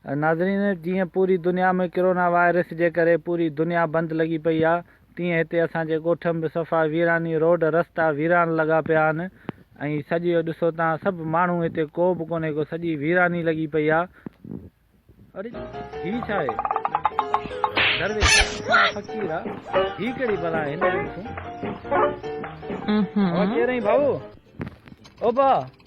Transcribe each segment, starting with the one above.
ناظرين جيئن پوري دنيا ۾ ڪرونا وائرس جي ڪري پوري دنيا بند لڳي پئي آ تيئن هتي اسان جي ڳوٺ م به صفا ويراني روڊ رستا ويران لڳا پيا آھن ۽ سڄيو ڏسو تان سڀ ماڻھو هتي ڪو به ڪونهي ڪو سڄي ويراني لڳي پئي آ اڙي هي ڇا آھي درويش ڪا فقير آ هي ڪهڙي بلا آھي هن جو ڏسون اھو ڪير آھين ڀائو او ڀا.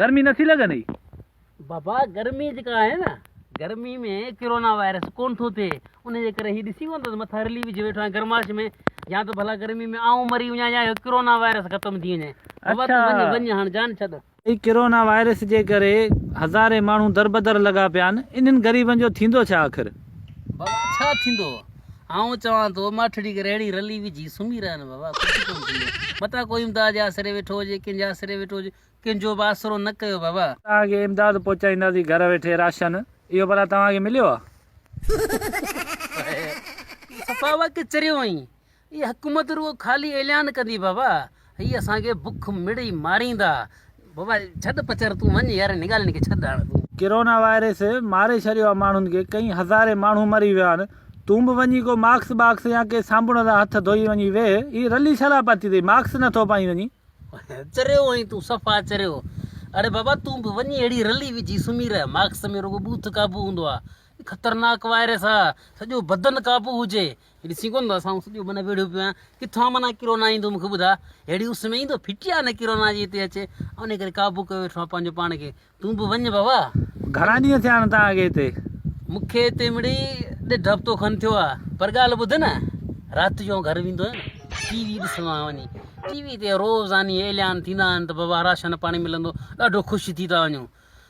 گرمي نه ٿي لڳندي؟ بابا گرمي جيڪا آهي نه گرمي ۾ ڪرونا وائرس ڪون ٿو ٿئي ان جي ڪري هي ڏسي ڪون ٿو ته مٿا رلي وجهي ويٺو آهيان گرماش ۾ يا ته ڀلا گرمي ۾ آئون مري وڃان يا هي ڪرونا وائرس ختم ٿي وڃي بابا تون وڃ وڃ هاڻ جان ڇڏ. سائين ڪرونا وائرس جي ڪري هزارين ماڻهو دربدر لڳا پيا آهن انهن غريبن جو ٿيندو ڇا آخر؟ بابا ڇا ٿيندو آئون چوان ٿو ماٺڙي کي رهڙي رلي وجهي سمهي رهن بابا ڪجهه ڪونه ٿيندو متان ڪو امداد جي آسري ويٺو هجي ڪنهن جي آسري ويٺو هجي ڪنهن جو به آسرو نه ڪيو بابا. توهان کي امداد پهچائينداسين گهر ويٺي راشن اهو ڀلا توهان کي مليو آهي. صفا واقعي چريو آهين. اهي حڪومت رڳو خالي اعلان ڪندي بابا هي اسان کي بک مڙئي ماريندا بابا ڇڏ پچر تون وڃ يار هن ڳالهين کي ڇڏ هاڻ تون. ڪرونا وائرس ماري ڇڏيو آ ماڻهن کي ڪئين هزارين ماڻهو مري ويا آهن تون به وڃي ڪو ماڪس باڪس يا ڪي صابڻ سان هٿ ڌوئي وڃي ويهه هي رلي ڇا لاء پاتي اٿئي ماڪس نه ٿو پائين وڃي. چريو آهين تون صفا چريو اڙي بابا تون به وڃي اهڙي رلي وجهي سمهي رهه ماڪس ۾ رڳو ٻوٿ قابو هوندو آ هي خطرناڪ وائرس آ سڄو بدن قابو هجي هي ڏسين ڪونه ٿو اسان اس جو معنيٰ ويڙهيو پيو آهيان ڪٿان معنيٰ ڪرونا ايندو مون کي ٻڌاء ههڙي اس ۾ ايندو ڦٽي آهي نه ڪرونا جي هتي اچي ان ڪري قابو ڪيو ويٺو آهيان پنهنجو پاڻ کي تون به وڃ بابا گهڻا ڏينهن ٿيا آهن تان کي هتي مون کي هتي مڙي ڏيڍ هفتو کن ٿيو آهي پر ڳالهه ٻڌ نه رات جو گهر ويندو آهيان ٽي وي ڏسندو آهيان وڃي ٽي وي تي روزاني اعلان ٿيندا آهن ته بابا راشن پاڻي ملندو ڏاڍو خوش ٿي ٿا وڃون